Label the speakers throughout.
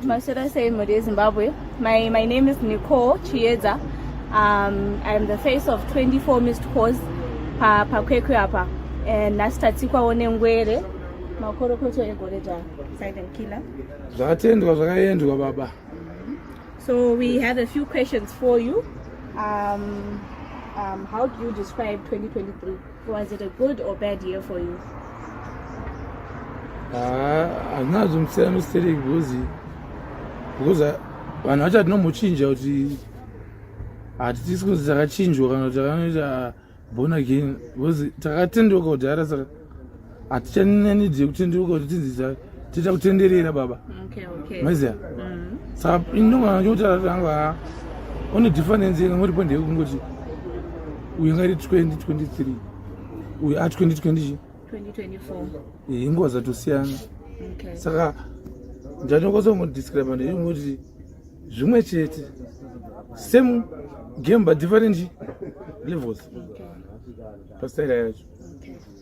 Speaker 1: Masura Seimuri, Zimbabwe. My, my name is Nicole Chiedza. Um, I'm the face of 24 missed calls pa pakwekwe apa and nasitatikwawo nengwere makorokoto egore dza silent killer zvakatendwa
Speaker 2: zvakaendwa baba so
Speaker 1: we have a few questions for you um, um, how do you describe 2023 Was it a
Speaker 2: good or bad year for you? Ah, hazvina zvimusiyana nostereki because because ah, vanhu vacho hatinomochinja kuti hatitisi kunzi takachinjwa kana kuti takanoita ah, born again because takatendoka kudhara saka hatichanenid yekuti ndikoti tinzisa tiita kutenderera baba maiziva mm. saka indomana chokuti atanga ha one difference yanga ngoti pande yekungoti uyu ngari 2023 uyu a 2020 inguva dzatosiyana saka ndanokwanisa kungodescribe ndei ngoti zvimwe chete same game but different levels pastaira yacho okay.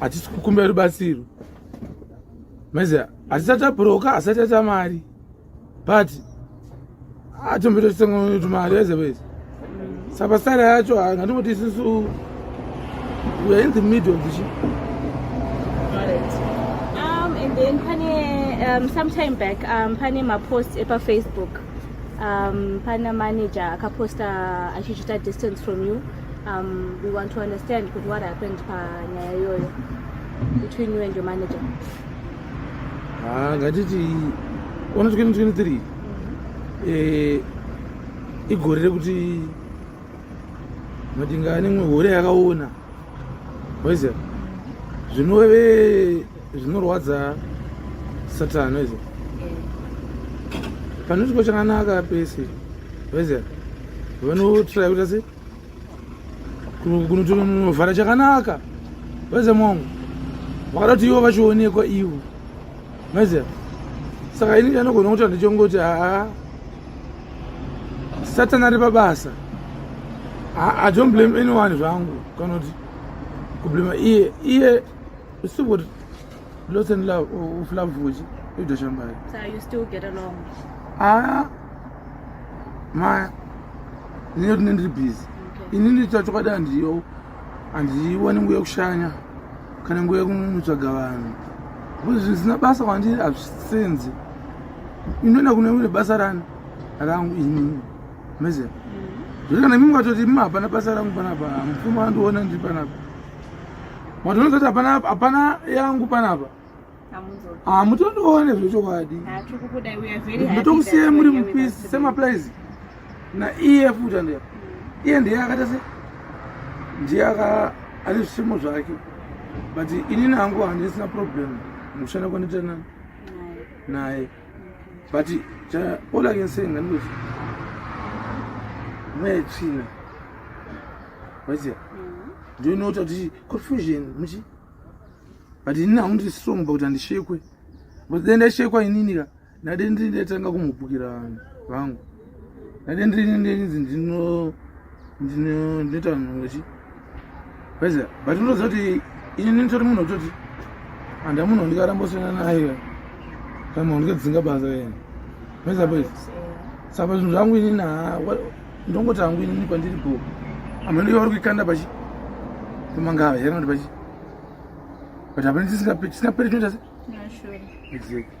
Speaker 1: hatisi okay. kukumbira
Speaker 2: rubatsiro maiziva hatisati abhuroka asati ata mari but atombetotsengotu mari aizevese mm. saka sara yacho ngatimboti isusu weare in the middle of the ship um,
Speaker 1: and then pane um, sometime back um, pane mapost epafacebook um, pana manager akaposta achichita distance from you Um, we want to understand kuti what happened panyaya iyoyo between you and your manager. Ah,
Speaker 2: ngatiti 123 eh, igore rekuti madinga anemwe gore yakaona waiziva zvinove zvinorwadza satani weze pane chiko chakanaka pese weze vanotraya kuita se kunotovhara chakanaka weze mongo vakada kuti ivo vachionekwa ivo weze saka ini chanogona kuti handichongoti haa satani ari pabasa i don't blame anyone zvangu kana kuti kublema iye iye Siburi lots and love of love vuji ido shambari. So you still get
Speaker 1: along. Ah. Ma
Speaker 2: nino tinendri busy. Okay. Ini ndicho chokwadi andiyo andiwani nguye kushanya kana nguye kumutsvaga vanhu. Kuti zvisina basa kwandiri hazvisenzi. Inoenda kune rimwe basa rani rangu ini. Mezera. Mm. Zviri kana mimi mukatoti mimi hapana basa rangu panapa mupfuma andiona ndiri panapa. Matonoza kuti hapana hapana yangu panapa. Hamutondione zvechokwadi. Ndotokusiyai muri mupisi semaplies na iye futi andeya. Mm. Iye ndiye akaita se ndiye aka ane zvisimo zvake but ini nangu handisina problem mukushanda kwandita naye. but all i can say ngandikuti mweya yetsvina waiziva mm-hmm. ndio inoita kuti confusion muchi but inini haundiri strong pakuti handishekwe but dai ndaishekwa inini ka ndade ndiri ndaitanga kumhupukira vanhu vangu ate ndinzi ndinoita vanhu vachi vaiza but unoziva kuti ini ndinotori munhu wekutoti handa munhu wandikaramba kusiyana naye kana munhu wandikadzinga basa yena vaiza boys saka zvinhu zvangu ini na ndongoti hangu inini kwandiri go amhendo yavari kuikanda pachi pamangava here kuti pachi but hapana tisingaperi tisingaperi tinoita se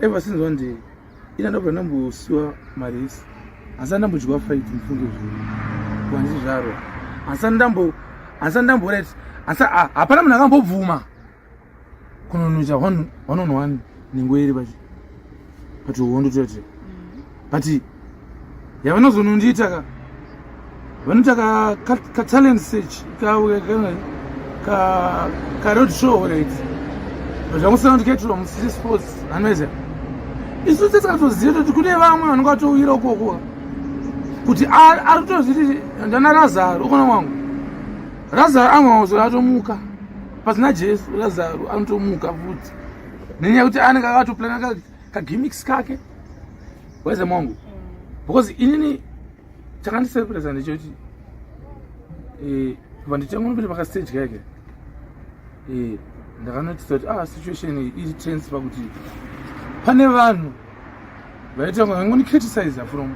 Speaker 2: ever since one day ina ndabva ndambosiwa maresi asi andambodyiwa fight mufunge zviri kwanzi zvaro asi andambo asi andamboret asi hapana munhu akambobvuma kunonoita one on one nengoeri pachi pachihondo toyati but yavanozonondiita ka vanoita katalent search karoad show right but vakusana kuti kaitirwa mucity sports anoita isu tese katoziva toti kune vamwe vanenge vatouyira ukoko kuti ari kutozviti ndana razaro ukona wangu razaro amwe mauzora atomuka pasina jesu razaro anotomuka futi nenyaya yekuti anenge akatoplana kake kagimmicks kake weze mongu mm. because inini chakandisurprisa ndechoti eh, vanditanga nopinda pakastage kake eh, ndakanotisa kuti ah situation iri tense pakuti pane vanhu vaitanga vangondicriticiza from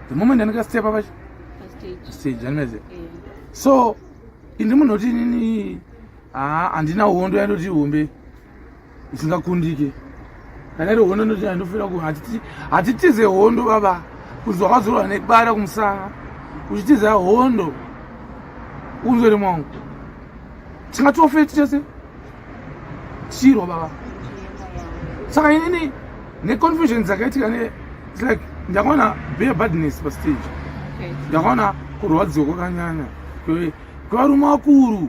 Speaker 2: the moment andikastepa pacho stage anmeze so indi munhu oti inini haa handina hondo yandoti hombe isingakundike kana iri hondo ndoti andofanira ku hatitize hondo baba kunzi wakazorwa nebara kumusana uchitiza hondo unzwere mwangu tingatofe tichese tichirwa baba saka inini neconfusion dzakaitika ne its like ndakaona bear badness pastage ndakaona kurwadziwa kwakanyanya kwevarume vakuru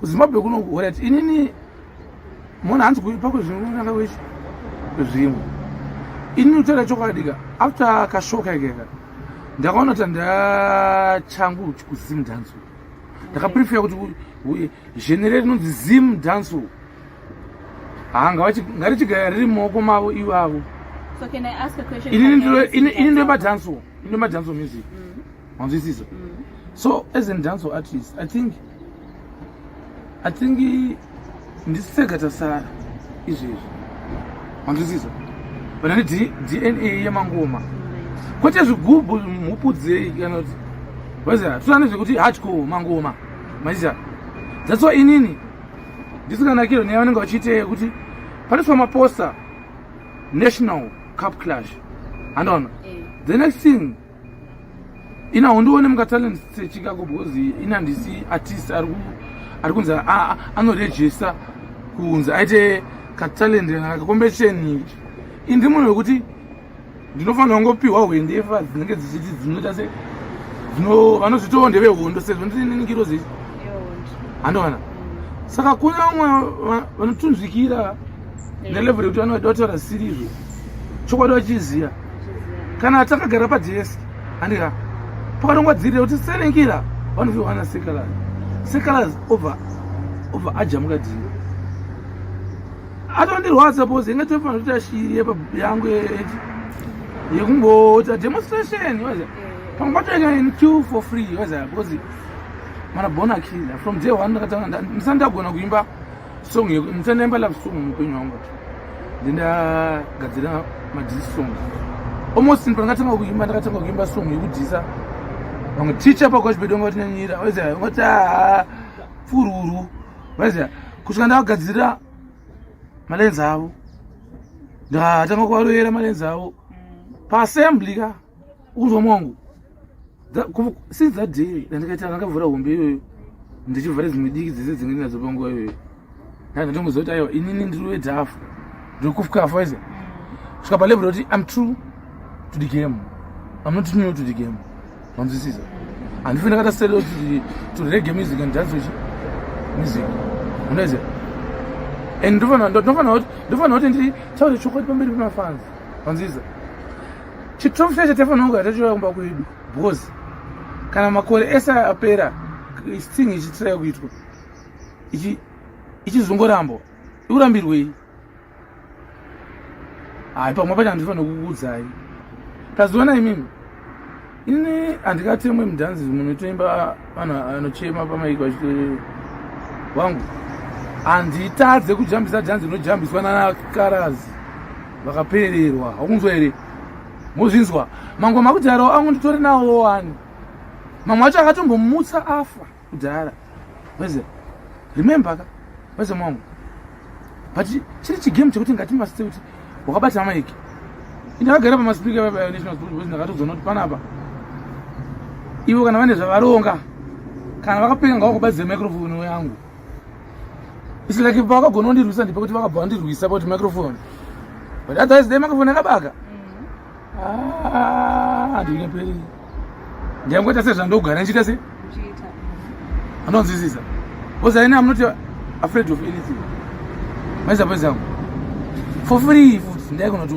Speaker 2: kuzimbabwe kuno kuhorat inini mona hanzi kuipako zvinonanga wechi zvimwe inini kutaura chokwadika after kashoka ikeka ndakaona kuti ndachangu kuzim dance ndakaprefera kuti zhenere rinonzi zim dance hangarichigara riri mumaoko mavo ivo avo
Speaker 1: ini ndoipa
Speaker 2: dance ini ndoipa dance music mm. manzwisisa mm. so as a dance artist i think i think ndisisega tasara izvezvi manzwisisa vana ne dna yemangoma kwete zvigubhu mupudzei kana kuti vaiziva tusane zvekuti hardcore mangoma maiziva that's why inini ndisinganakiro neya vanenge vachiitei kuti panoiswa maposta national cup clash handoona eh. the next thing ina hondione mukatalent sechicago because ina ndisi artist ari kunzi anorejista kunzi aite katalent kakombetisheni indi munhu wekuti ndinofanira kungopiwa hwendefa dzinenge dzichiti dzinoita se vanozvitoo ndevehondo sezvo ndineningiro zii handoona saka kune vamwe vanotunzvikira nelevel yekuti vanoda kutaura sirizvo chokwadi vachiziva kana takagara pajesi handika pakanongwa dziri kuti senengira vanoviwana sekalaz sekalaz obva obva ajamuka dziri atondirwadza bos inge tofanira kuti ashiri yangu eti yekungoita demonstration waza pamwe patoita in q for free waza because mana bona kira from day one ndakatanga ndisandagona kuimba song yeko ndisandaimba love song muupenyu hwangu ndendagadzira madhisi song almost pandakatanga kuimba ndakatanga kuimba song yekudhisa vamwe ticha pakwachibedi vanga vatinyanyira vaiza ungati haa fururu vaiza kusvika ndavagadzirira malenzi avo ndatanga kuvaroyera malenzi avo paassembly ka ukunzwa mwangu since that day ndandikaita ndakavhura hombe iyoyo ndichivhara dzimwe diki dzese dzinge ndinadzo panguva iyoyo ndanga ndongoziva kuti aiwa inini ndiri wedhafu ndiri kufukafa ize svika palevel yekuti im true to the game im not new to the game manzwisisa handife ndakata sel to rege music and dance wechi music unoize and ndofanira kuti nditaure chokwadi pamberi pemafanzi manzwisisa chiturufu chacho taifanira kugara tachiuya kumba kwedu bcause kana makore ese apera thing ichitiraya kuitwa ichizongorambo ikurambirwei hai pamwe pacho handifanira kukuudzai taziona imimi ini handikatemwe mudhanzi munotoimba vanhu vanochema pamaiko vachiti wangu handitadze kujambisa dhanzi rinojambiswa nanakarazi vakapererwa hakunzwa here mozvinzwa mangu makudharawo angu nditori nawo wani mamwe wacho akatombomutsa afa kudhara weze remember ka weze mwangu but chiri chigame chekuti ngatimbaste kuti wakabata maiki ndakagara pamaspika national sport boys ndakatodzwa noti panapa ivo kana vane zvavaronga kana vakapeka ngava kubadzira microfone yangu its like vakagona kundirwisa ndipe kuti vakabva vandirwisa pauti microfone but otherwise the microfone yakabaka Ah, ndingaperi ndangoita sezvandogara ndichiita se anonzwisisa because ine am not afraid of anything maiza paiza yangu for free futi ndaigona to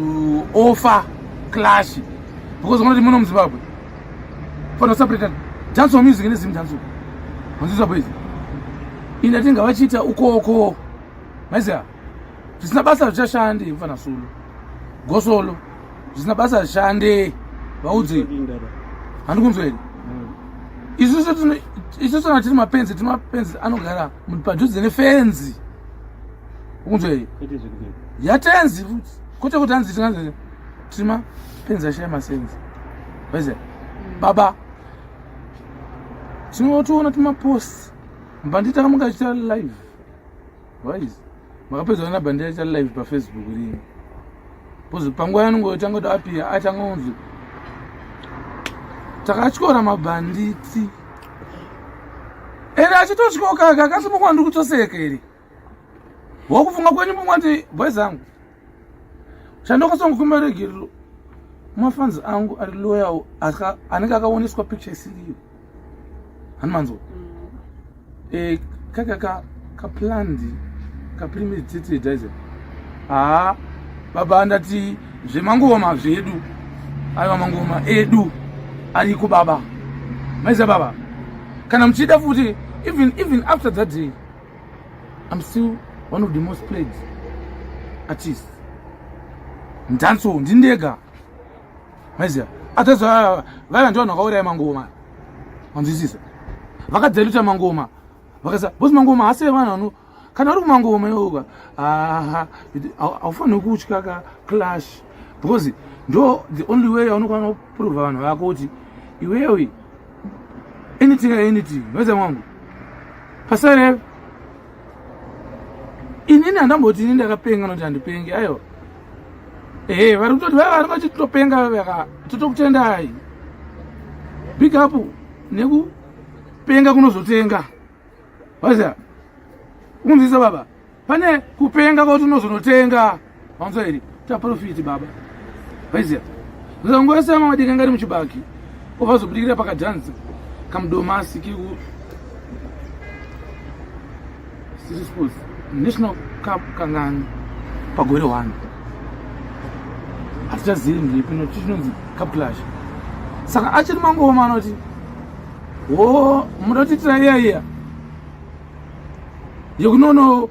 Speaker 2: offer clash because unoti muno muzimbabwe fana usapretana dance wa music nezim dance unzwisisa paiza ini atinga vachiita ukoko maiza zvisina basa zvichashande mfana solo gosolo zvisina basa zvishande vaudze handikunzwa here hmm. isusu kana tiri mapenzi tiri mapenzi anogara padhuze nefenzi ukunzwa here yatenzi futi kwete kuti anzi tinganzi tiri mapenzi ashaya masenzi vaize hmm. baba tinotoona timapost mbanditaka mukachita live Wise. Makapedzana na bandira cha live pa Facebook rini. Pozi panguva yanongo yotanga kuti apia atanga kunzi takatyora mabhanditi ende achitotyoka aka akasimuka ndiri kutoseka iri wakufunga kwenyu pamwe kuti boys angu chandokasanga kumaregerero mafanzi angu ari loyal anenge akaoneswa picture isiriyo hanimanzwa mm. eh, kakaka kaplandi kapremeditated haa baba andati zvemangoma zvedu aiwa mangoma edu ariko baba maiza baba kana muchida futi even even after that day I'm still one of the most played artists in dancehall ndindega maiziva others vaiva vanhu vakauraya mangoma vanzwisisa vakadzaluta mangoma vakasa bos mangoma hasi evanhu vano kana vari kumangoma iwoka aha haufaniri kutya ka clash because ndo the only way yaunokwana kuprova vanhu vako kuti iwewe anything anything mhedza mwangu pasare inini handamboti ini ndakapenga noti handipenge aiwa ehe vari kutoti vaiva vari vati topenga vaveka totokutendai big up nekupenga kunozotenga waziva kunzisa baba pane kupenga kwauti unozonotenga vanzwa here taprofiti baba vaiziva zangosema madika ngari muchibaki ovazobudikira pakadhanza kamudomasi kiku city sports national cup kangani pagore hwani hatichazivi mhipi nokuti chinonzi cup clash saka achiri mangoma anoti wo muda kuti tira iya iya yekunono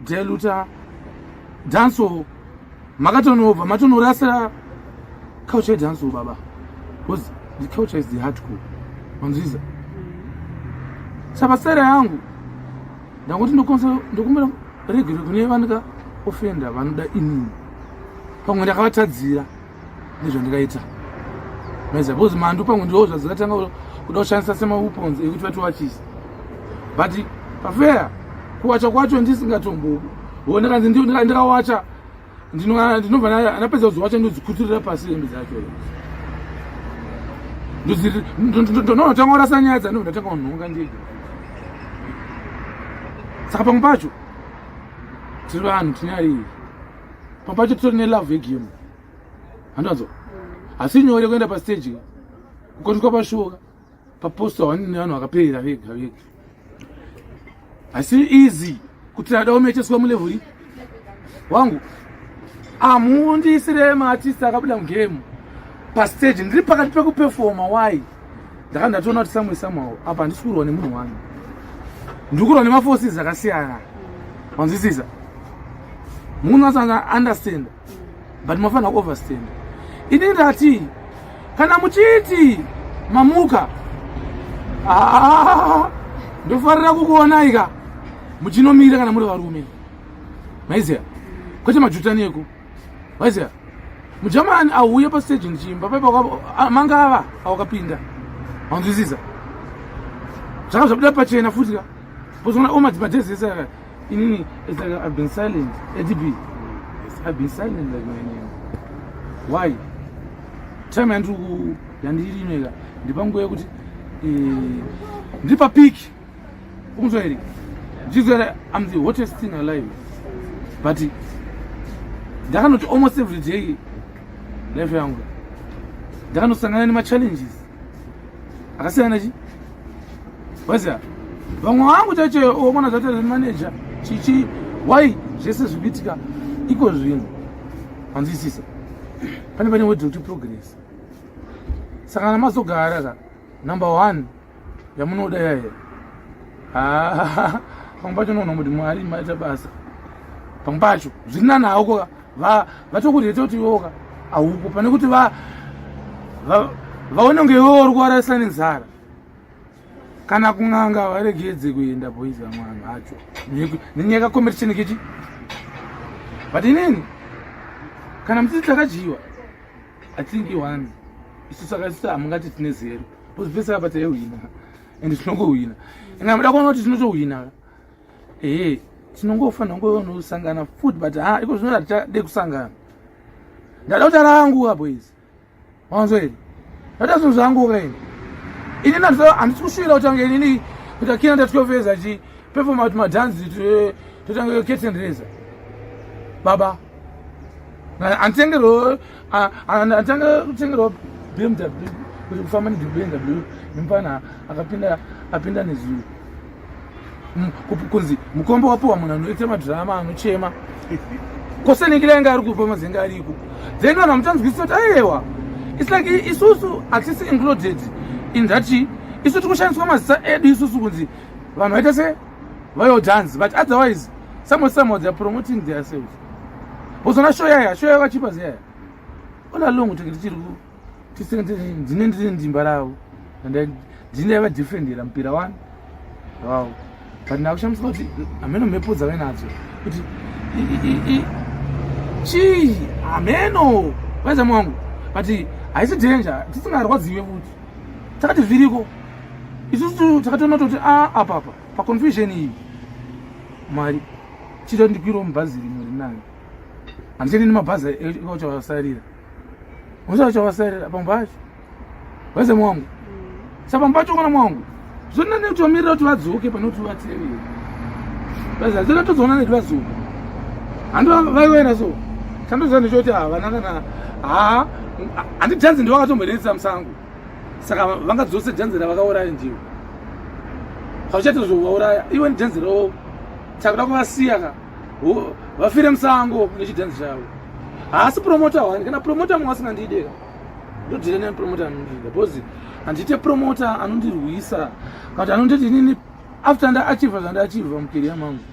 Speaker 2: deluta danso makatonobva matonorasa culture yedanso baba because the culture is the hardcore manzviza saka sera yangu ndangoti ndokumbira regero kune vanika ofenda vanoda inini pamwe ndakavatadzira nezvandikaita maiziva because mandu pangu ndiwo zvadzikatanga kuda kushandisa semawepons ekuti vati wachisi but pafeya kuwacha kwacho ndisingatomboku wo ndakanzi ndikawacha ndinobva ndapedza kuzowacha ndodzikutirira pasi hembe dzacho ndonotanga kurasa nyaya dzandobva ndatanga kunhonga ndega saka pamwe pacho tiri vanhu tinyariyi papacho titori nelove yegame handanzwa asi nyore kuenda pastage kukotwa pashoka paposta wani nevanhu vakaperera vega vega asi easy kuti ada umecheswa mulevhuri wangu amuundisire maatist akabuda mugame pastage ndiri pakati pekupefoma wai ndaka ndatoona kuti samwe samwawo apa handisi kurwa nemunhu wani ndiri kurwa nemaforces akasiyana manzwisisa munhu asana understand but mafanira kuoverstand ini ndati kana muchiti mamuka ah, ndofarira kukuonai ka muchinomira kana muri varume maiziva kwete majutaneko waiziva mujamani auye pasteji ndichiimba paipa ah, manga ava awakapinda anzwisisa zvaka zvabuda pachena futi ka bozona omadzimajezi ese aka inini it's like i've been silent adb i've been silent like my name why time yandiri yandiri inoika ndipanguva yekuti eh, ndiri papiki ukunzwa here ndizvara am the hottest thing alive but ndakanoti almost every day life yangu ndakanosangana nemachallenges akasiyana chi waziva vamwe vangu chacho omona zvataura nemanager chichi why zvese zvibitika iko zvinhu hanzwisisa pane pane wedoti progress saka namazogara ka number one yamunoda yaye ah, pamwe pacho unoona kuti mwari maita basa pamwe pacho zviri nani hauko vatokureta kuti iwoka hauko pane kuti vaone kunge iwewo uri kuvarasa nenzara kana kun'anga varegedze kuenda boys vamwana vacho nenyaya competition kechi but inini kana mutsitsi akadyiwa i think you won isu saka isu hamungati tine zero because vese apa taihwina and tinongohwina and hamuda kuona kuti tinotohwina ee tinongofanira ngonosangana futi but ha iko zvinoda tichade kusangana ndada kuti arangu apo izi wanzwa here ndada zvinhu zvangu kaini ini nandisa handisi kushuvira kuti ange inini kuti akina ndatyovezva chii Perform at madhanzi totanga curtain raiser. Baba. Antengerwo anatanga kutengerwa BMW kuti kufamba neBMW mupana akapinda apinda nezuro. Mm, kunzi mukombo wapiwa munhu anoita madhirama anochema kosenekile anga ari kupa mazenga ariko then vanhu vamutanzwisisa kuti ayewa its like isusu hatisi included in that isu tikushandiswa mazisa edu isusu kunzi vanhu vaita se vayo dance but otherwise someone somehow theyare promoting their selves bozona show yaya show yakachipa zeyaya ola long tenge tichiri ku ndine ndine ndimba ravo and ndine vadefendera mupira wani wow but ndakushamisa kuti hameno mhepo dzave nadzo kuti chii hameno vaizamu wangu but haisi danger tisingarwadziwe futi takati zviriko isusu takatoona toti a ah, apa apa paconfusion iyi mwari chita ndikwirawo mubhazi rimwe rinayo handichadi nemabhazi auchavasarira usa uchavasarira pambo pacho wese mwangu sa pambo pacho kana mwangu zvona nekutomirira kuti vadzoke pane kuti vatevere vazazira tozoona nekuti vadzoka handi vaiwena so chandoziva ndechoti havana kana ha handi janzi ndo vakatomboreetsa musango saka vanga dzose janzi ravakauraya ndivo hauchaita zvovauraya iwe nijanzi ravo takuda kuvasiya ka vafire musango nechijanzi chavo haasi promota wani kana promota mwasingandideka ndodhira nani promota anondida because handiite promota anondirwisa but anonditi inini after ndaachiva zvandaachiva mukeriya mangu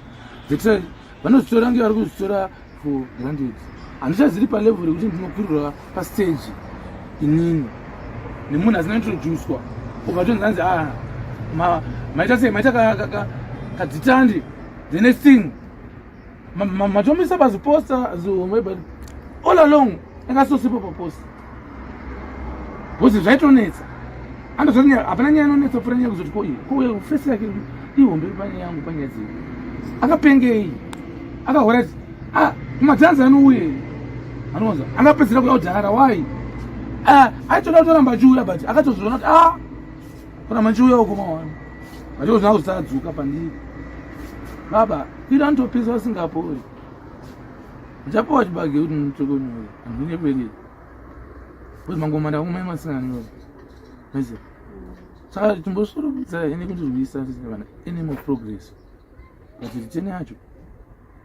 Speaker 2: thats vanozvitora nge vari kuzvitora for granted handichaziri palevel rekuti ndinokwirira pastage inini nemunhu asina introducwa obva tonzi anzi a ah, maita sei maita kadzitandi the next thing matomisa ma, ma, baziposta zihomwe but all along akasosipo paposta bcause zvaitonetsa andozoti hapana nyaya inonetsa pfura nyaya kuzoti ko iyi ko fesi yake ihombe pane yangu panyaya dzei akapengei akahora ti ah, madhanzi anouye anonza angapedzera kuya kudhara wai ah, aitoda kutoramba achiuya but akatozviona kuti a ah, Kana machiuya uko mawana. Macho zvina kusadzuka pandiri. Baba, ira ndopisa singapori. Japo wachibage kuti mutoko nyoyo. Ndine kweli. Kuti mangoma ndakumai masina nyoyo. Mese. Saka timbosurubisa ene kuti zvisa tisina any more progress. Kuti tene yacho.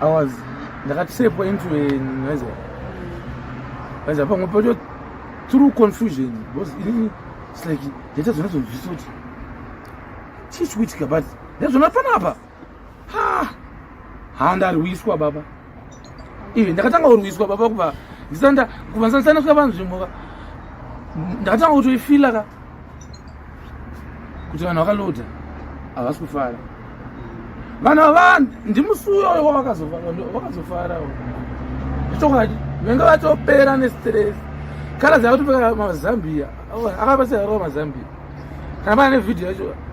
Speaker 2: I was ndakatisepwa into noiza noiza pamwe pacho through confusion because ini it's like ndaita zvona zvonzvisa kuti chii chikuitika but ndazvona panapa ha ha ndarwiswa baba ive ndakatanga kurwiswa baba kuva ndisanda kuva ndisandisana kusa vanhu zvimhoka ndakatanga kutoifila ka kuti vanhu vakaloda havasi kufara vanhu ava ndimusuyo wavakazofara zvichokwadi venge vatopera nestress kana dzakatopeka mazambia akapasirarova mazambia kana pane vhidhiyo yacho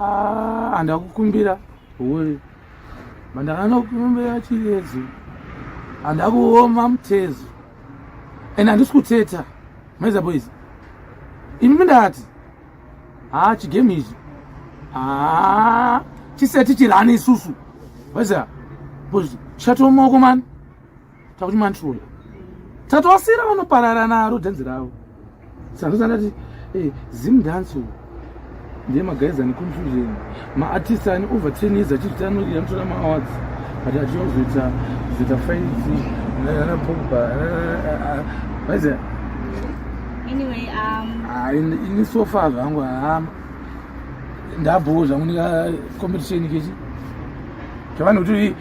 Speaker 2: Ah, handina kukumbira huwe mandakanokumbira chiredzo handina kuoma mutezo and handisi kuteta maiza boys imi mindati haa ah, chigame ichi haa ah, chisati chirani isusu maiza boys chatomaoko mani takuti mantrola tatowasira vanoparara naro dhanzi ravo sanozandati hey, eh, zim dance ndiye magaiza neconfusion maartist ane over ten years achiti anoria anotora maawards but achiozoita zoita faiti ana pogba vaiza anyway
Speaker 1: um ah,
Speaker 2: ini so far zvangu haama ndabhowo zvangu nika competition kechi zvavanokuti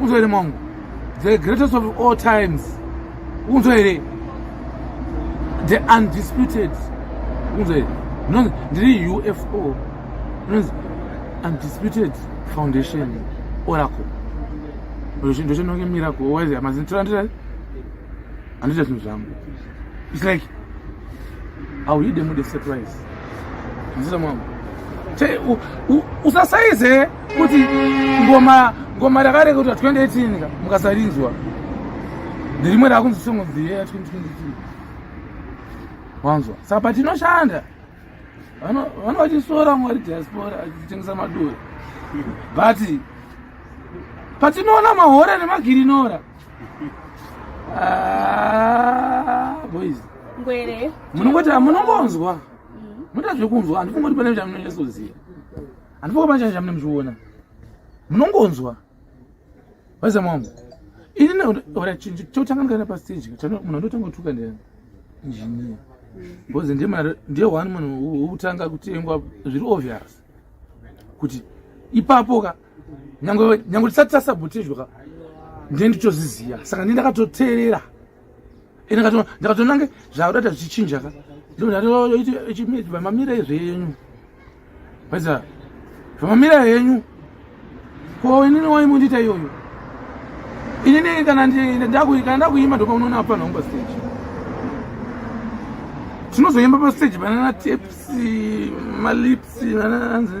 Speaker 2: unzwa here mwangu the greatest of all times unzwa here the undisputed unzwa here ndinonzi ndiri ufo ndinonzi undisputed foundation oracle ndochinoke miracle wise amazini tirandirai handita zvinhu zvangu It's like I'll hit them with a surprise. Nzisa mwangu. Che u, u, usasaize kuti ngoma ngoma rakareka kuti 2018 ka mukasarinzwa. Ndirimwe rakunzi song of the year 2023. Wanzwa. Saka patinoshanda vano vano vachisora mwari diaspora achitengesa madora. But patinoona mahora nemagirinora Ah, boys ngwere
Speaker 1: munongoti
Speaker 2: munongonzwa mm. munoita zvekunzwa handifunga kuti pane chamunonyasoziva handifunga pane chai chamune muchiona munongonzwa vaisa mwangu ini chotanga ndikaenda pastage munhu andotanga kutuka ndi engineer because ndiye one munhu wekutanga kutengwa zviri obvious kuti ipapo ka nyange nyange tisati tasabotejwa ka ndee nditoziziva saka ndee ndakatoteerera ende ndakatonange zvaudata zvichinja ka ndoaamamira zvenyu aisa zvamamira henyu ko inini waimundiita iyoyo inini kana ndakuima ndopa unoona apana umba stage tinozoimba pastage panana taps malips ananzi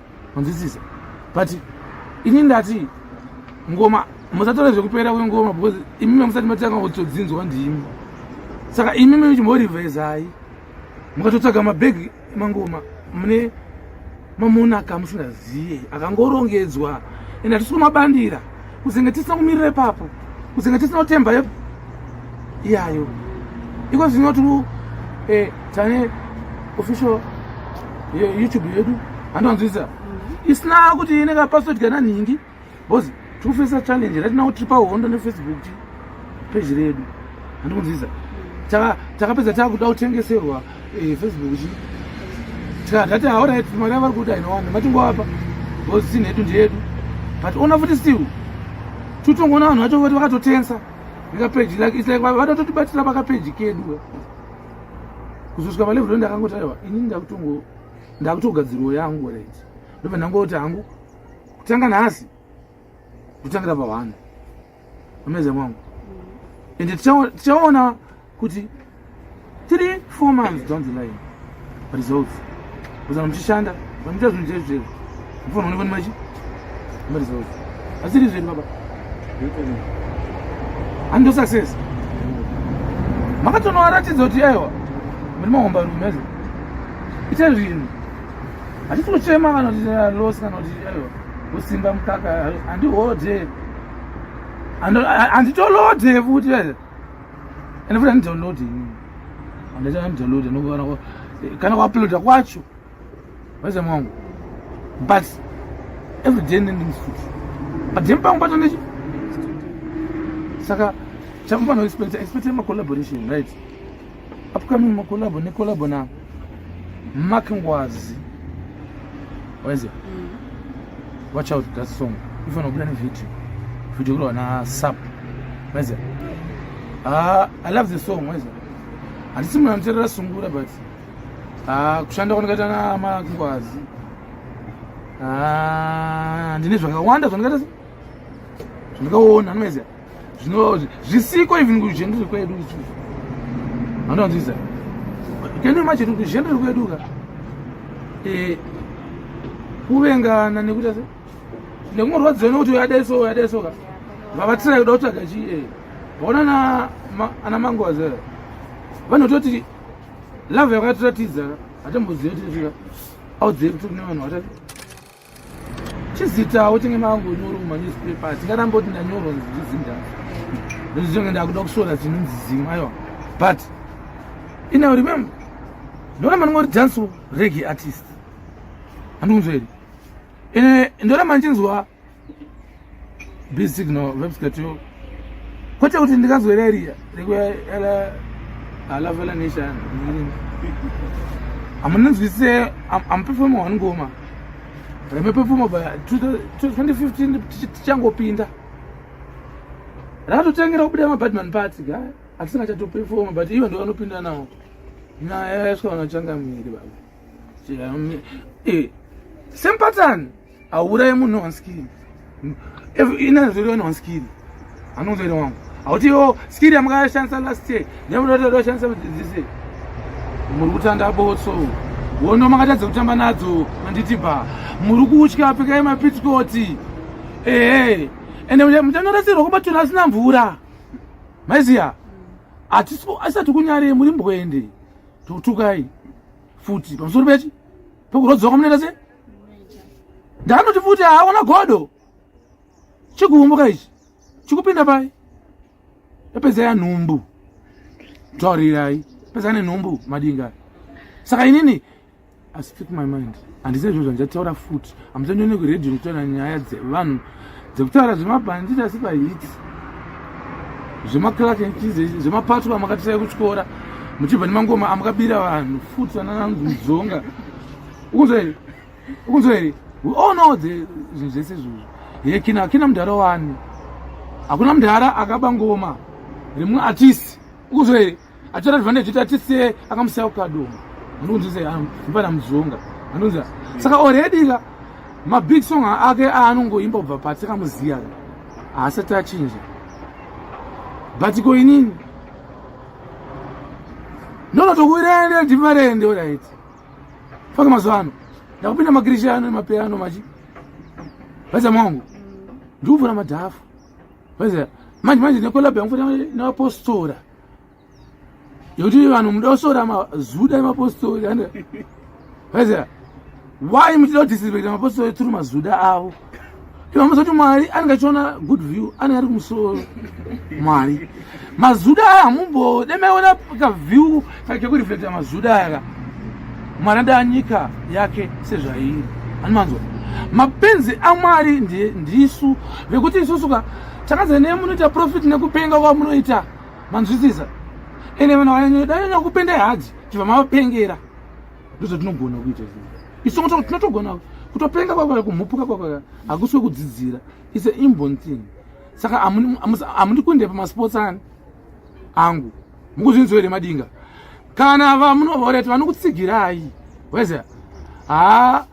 Speaker 2: manzwisisa but ini ndati ngoma musatore zvekupera kwengoma because imi mamusati matanga kutodzinzwa ndimi saka imi michimborivhezai mukatotsvaga mabhegi emangoma mune mamonaka musingaziye akangorongedzwa ende hatisi kumabandira kuzenge tisina kumirira ipapo kuzenge tisina kutemba yepo iyayo iko zvino tiri eh, tane official youtube yedu handiwanzwisa mhm. isina kuti inenge password kana nhingi bcause tiri kufesa challenge ratina kuti tiri pahondo nefacebook peji redu handikunzwisa mhm. takapedza takuda kutengeserwa Eh, Facebook chi. Tika data all right mari vari kuda inowana matingo apa. Boss sin hedu ndedu. But ona futi still. Tutongona vanhu vacho vati vakatotensa. Nika page like it's like vatototibatira paka page kedu. Kuzosvika pa level ndakangoti aiwa ini ndakutongo ndakutogadzirwa yangu right. Ndobva ndangoti hangu kutanga nhasi kutangira pa vanhu. amazing wangu and tichaona kuti three four months down the line results kuzana muchishanda vamuita zvinhu zvedu zvedu mufana onekwa nemachi maresults asiri zvedu baba hando success makatonoaratidza kuti aiwa muri mahomba rume azi ita zvinhu hatisi kuchema kana kuti loss kana kuti aiwa kusimba mukaka handihode anditolode futi vese ende futi andidownloade ini andaita andidownloade nokuvana kana kuuploada kwacho vese mwangu but every day nendings futi but then pangu pato nechi saka chakufana expect expect ma collaboration right upcoming makolabo nekolabo na mark ngwazi waiziva mm. watch out that song ifanira kubuda nevideo video kuri wana sap waiziva ah, i love the song waiziva handisi munhu anoterera sungura but ah, kushanda kwandikaita na mark ngwazi ah, ndine zvakawanda zvandikaita zvandikaona anomaizia zvino zvisiko even kuzhendere kwedu anonzvisa kene manje kuzhendere kwedu ka eh, kuvengana nekuita se nekumurwadziwa nekuti uyadeso uyadeso ka vavatsira kuda kutsvaga chi eh, vaona ana mangoza vanototi love yakatiratidza hatamboziva tisvika audzei kuti kune vanhu vatati chizita uchinge mangu nyoro mumanewspaper tingaramba kuti ndanyoro zvizinda ndozvizonge ndakuda kusvora dzinonzi zimwe aiwa but ina remember ndoramba ndinga kuti dance regi artist handikunzwa here ende ndoramba ndichinzwa be signal vepsikatio kwete kuti ndikazwera iriya rekuela halavela nation amunanzwisise amupefoma one ngoma remepefoma by 2015 tichangopinda rakatotengera kubuda mabadman party ga atisingachatopefoma but ivo ndo vanopinda nawo nyaya yaiswa vanachangamiri baba eh, same pattern hauraye munhu one skiri inazviri one one skiri anonzi ere wangu hauti yo oh, skiri yamakashandisa last year nemunotodaoshandisa this year muri kutanda botso wono makatadza kutamba nadzo manditi ba muri kutya pfekai mapitsikoti ehe ende muchanorasirwa kubatona asina mvura maiziya asati kunyare muri mbwende tokutukai futi pamusoro pechi pokurwadziwa kwamunoita se ndanoti futi haona godo chikuumbuka ichi chikupinda pai yapedzai anhumbu taurirai pedzai nenhumbu madinga saka inini I speak my mind handisi zvinhu zvandichataura futi hamuchandione kuredio ndikutaura nyaya dzevanhu dzekutaura zvemabhanditi asi pahiti zvemaclark zvemapatwa amakatisai kutyora muchibva nemangoma amakabira vanhu futi vanananzi mudzonga ukunzwa here ukunzwa here we all know the zvinhu zvese izvozvo ye kina kina mudhara wani hakuna mudhara akaba ngoma rimwe artist ukunzwa here atora advantage kuti atisiye akamusiya kukadomo anonzi sei ah, mupana muzonga anonzi saka already ka mabig song ake aanongoimba kubva pati akamuziya haasati achinja but ko inini ndonotokuirende ndivarende orit faka mazuva ano ndakupinda makirishano nemapeano machi vaiza mwangu ndikuvhura madhafu vaiza manje manje nekolabha yangu fana nevapostora yekuti vanhu muda kusora mazuda emapostori and vaiziva why muchida kudisrespecta mapostori through mazuda avo ivamuzoti mwari anenge achiona good view anenge ari kumusoro mwari mazuda aya hamumbode maiona kaview kekureflecta mazuda aya ka mwari adaa nyika yake sezvairi anomanzwa mapenzi amwari ndisu vekuti isusuka Tanzania munoita profit nekupenga kwamunoita manzwisisa ende vanhu vanyanya kupenda hadzi tibva mavapengera ndozvatinogona kuita isu tinotogona kutopenga kwakwaya kumhupuka kwakwaya hakusi wekudzidzira its a inborn thing saka hamundi kuende pamasports ani angu mukuzvinzwa here madinga kana vamunovaurati vanokutsigirai waiziva haa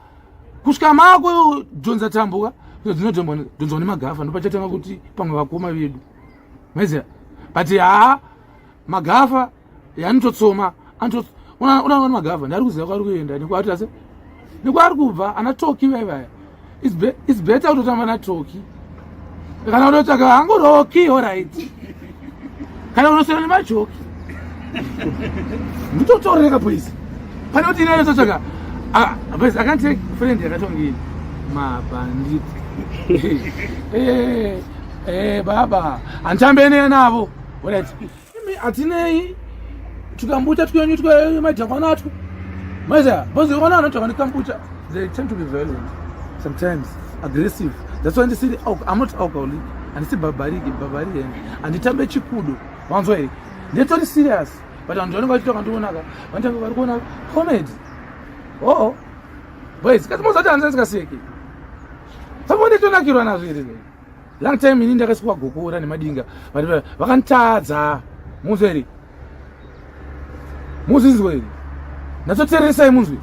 Speaker 2: kusvika mako dhonza tambuka dzinodhonzwa dzinodhonzwa nemagafa ndopachatanga kuti pamwe vakoma vedu maiziva but haa magafa yanototsoma unaona magafa ndari kuziva kwaari kuenda nekwaatase nekwaari kubva ana toki vaivaya its better kutotamba natoki kana unotsvaga hangu roki orit kana unosiyana nemajoki mutotoreka please pane kuti ine yototsvaga bas ah, akantake friend yakatongi mabhandit eh, eh, baba handitambene navo orit Imi hatinei tukambucha twenyu twemadhakwana atwo maiziva bonzi vana vanotava nekambucha they tend to be violent sometimes aggressive that's why ndisiri i'm not alcoholic handisi bhabariki bhabarian handitambe chikudo wanzwa here ndetori serious but vanhu vanenge vachitoka ndionaka vanotanga vari kuona comedy oo oh, oh. boys kasi mozati hanzi asikaseki samondetonakirwa nazvo here long time ini ndakasukwa gokora nemadinga vakanditadza munzwa here muzvinzwa here ndatsotereresai munzwi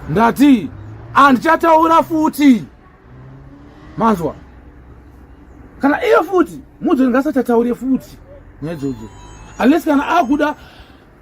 Speaker 2: ndati handichataura futi manzwa kana iye futi munzwi ndingasachataure futi nyaya idzodzo unless kana akuda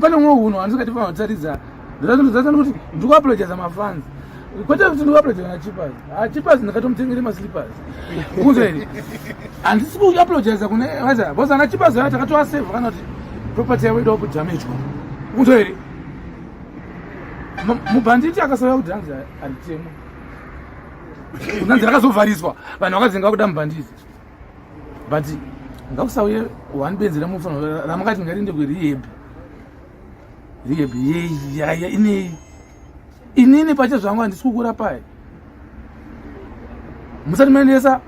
Speaker 2: pane umwe hunhu handisingati famba taridza ndazvinozaisa nokuti ndikuapologiza mafanzi kwete kuti ndikuapologiza na chipas ha ah, chipas ndakatomutengere maslipas kunze here handisi kuapologiza kune vaza bcause ana chipas aya takatoaseva kana kuti property yavo idawo kudamejwa kunze here mubhanditi akasauya kuti hanzi haritemo kunanzi rakazovhariswa vanhu vakadzinga kuda mubhanditi but ngausauye one benzi remufanira ramukati ngarinde kurehab rehab yeyaya inei inini pache zvangu handisi kukura paye musati maendesa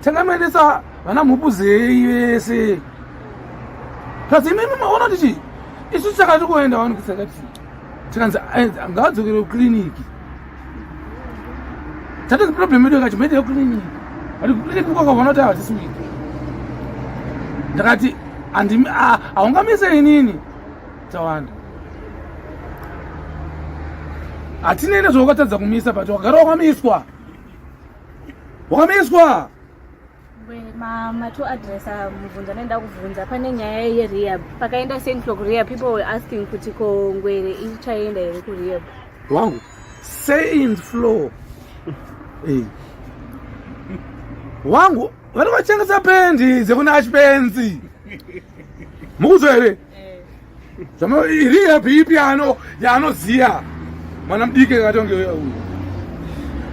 Speaker 2: tanga maendesa vana mhupu zei vese plus imimi maona kuti chii isu chakati kuenda wani kusakati tikanzi eh, ngaadzokere kucliniki That is the problem yedu yakati mede cleaning. Ari cleaning kwa kwa vanoti hawa this week. Ndakati andi haungamise inini. Tawanda. Hatine nezvaukatadza kumisa but wagara wakamiswa. Wakamiswa.
Speaker 1: Mama to address ah, mubvunzo anoenda kubvunza pane nyaya yerehab pakaenda saint clock rehab people were asking kuti ko ngwere ichaenda here kurehab wangu
Speaker 2: saint floor hey. wangu vanenge vachengesa pendi dzekuna ashpenzi mukuzo here zvama iri yapi ipi ano yaanoziya mwana mudiki akatonge uyu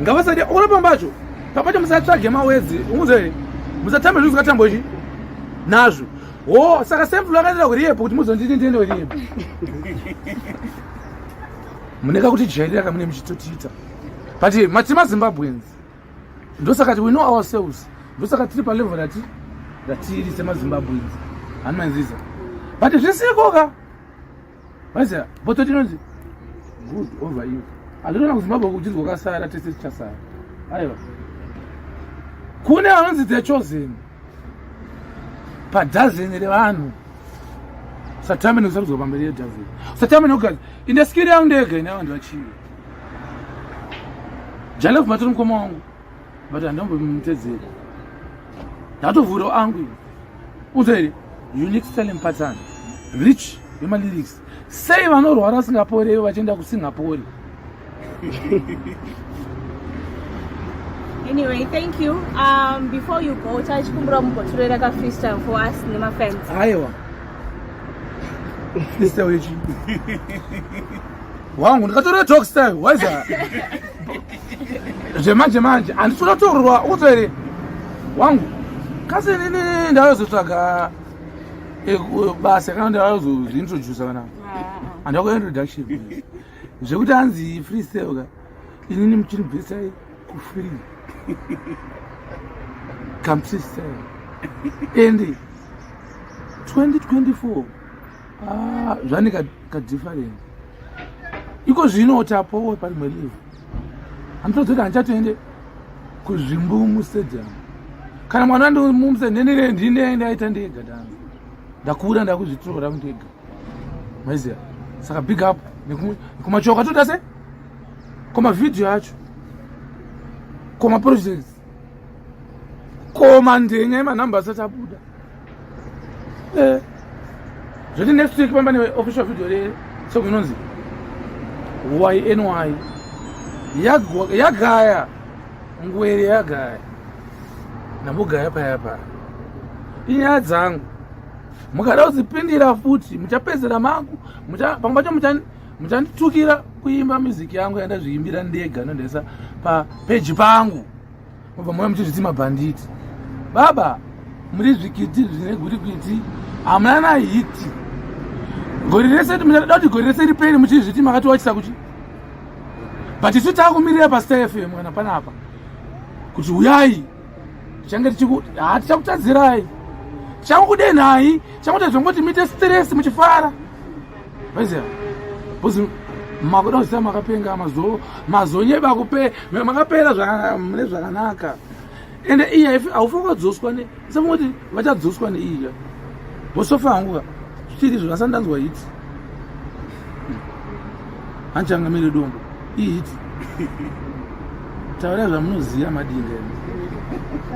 Speaker 2: ngavasati ona pambacho papacho musatsvage mawedzi unguze musatambe zvinhu zvingatambwa chi nazvo o saka sempulu akaitira kuriyepo kuti muzonditi ndiende kuriyepo muneka kuti jairira kamune muchitotiita but mati mazimbabweans ndosaka we know ourselves ndosaka tiri palevel rati ratiri semazimbabweans hanimanziza but zvisikoka vaiziva boto tinonzi good over you handinoona kuzimbabwe kuchizwa kasara tese tichasara aiwa kune vanonzi the chosen padhazeni revanhu satamene kusarudzwa pamberi yedhazeni satamene kugaza inde skiri yangu ndega ine vanhu vachivi jalefu matori mukoma wangu but handambomutedzeri ndatovhura angu unzeri unique selling pattern rich yemalyrics sei vanorwara vasingapore ivo vachienda kusingapore
Speaker 1: anyway thank you um, before you go tachikumbira mumbotorera ka freestyle for us nemafans aiwa
Speaker 2: freestyle yechi wangu ndikatorera talk style waiza zvemanje manje handisina torwa ukutoere wangu kasi nini ndayozotsvaga Eh, basa kana kuti vazointrodusa kana handi ah, ah, ah. vakuintroduction zvekuti hanzi freestyle ka inini muchinibvisai kufree come freestyle and 2024 zvaane kadifference iko zvino kuti apowe parimwe live handitodzoti handichatoende kuzvimbu mustadium kana mwana ndimumse nhenire ndindiende aita ndega dan ndakura ndakuzvitora ndega maiziva saka big up nekumachoka toda se komavhidhiyo acho komaprojects koma ndenya yemanhamba asati abuda eh, zvoti next week pamba neofficial video resong inonzi yny yagaya ngwere yagaya nambogaya paya paya inyaya dzangu mukada kudzipindira futi muchapedzera mangu pamwe pacho muchanditukira kuimba music yangu yandazviimbira ndega nondaisa papeji pangu mobva mauya muchizviti mabhanditi baba muri zvikiti zvine gwirikwiti hamuna na hiti gori rese muchada kuti gori rese riperi muchizviti makatiwachisa kuchi but isu takumirira pastar fm kana panapa kuti uyai tichange tichakutadzirai tichakukudei nhai tichakutadzongoti muite stress muchifara Vaiziva, boss makuda kuziva makapenga mazo mazonyeba kupe makapera zvakanaka mune zvakanaka ende iya if aufanira kudzoswa ne safunga kuti vachadzoswa neiya vosofa hangu ka zvichiri zvo asati ndanzwa hiti hanchangamire dombo ihiti taura zvamunoziva madinga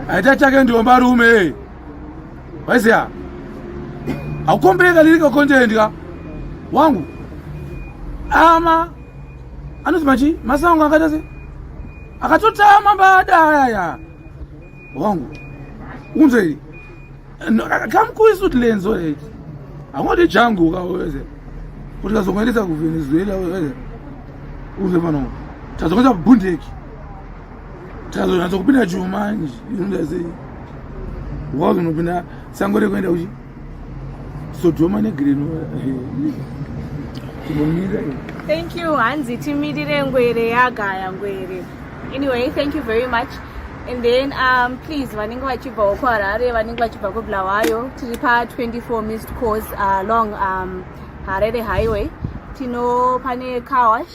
Speaker 2: aita chake ndiomba rume Waiziya. Akukombeka lirika content ka. Wangu. Ama anoti machi masango akaita se akatotama mbada ayaya wangu unzwa iri kamkuisu tilenzo eti angoti jangu kaweze kuti kazongoendesa kuvenezuela weze unzwe pano tazongoita bundeki tazonatsa kupinda chuma inoda sei wauzonopinda sango rekuenda kuchi sodhoma negreno tinomira
Speaker 1: thank you hanzi timirire ngwere yagaya ngwere anyway thank you very much and then um, please vanenge vachibvawo kuharare vanenge vachibva kubulawayo tiri pa 24 mist course along uh, um, harare highway tino pane carwash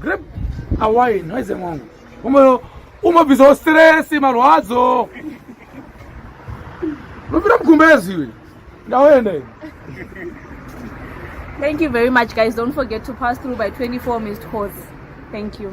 Speaker 2: Grab a wine, waize mwangu. Umo umabvisawo stress marwadzo. Unopira mkumbezi iwe. Ndaenda iwe.
Speaker 1: Thank you very much guys. Don't forget to pass through by 24 missed calls. Thank you.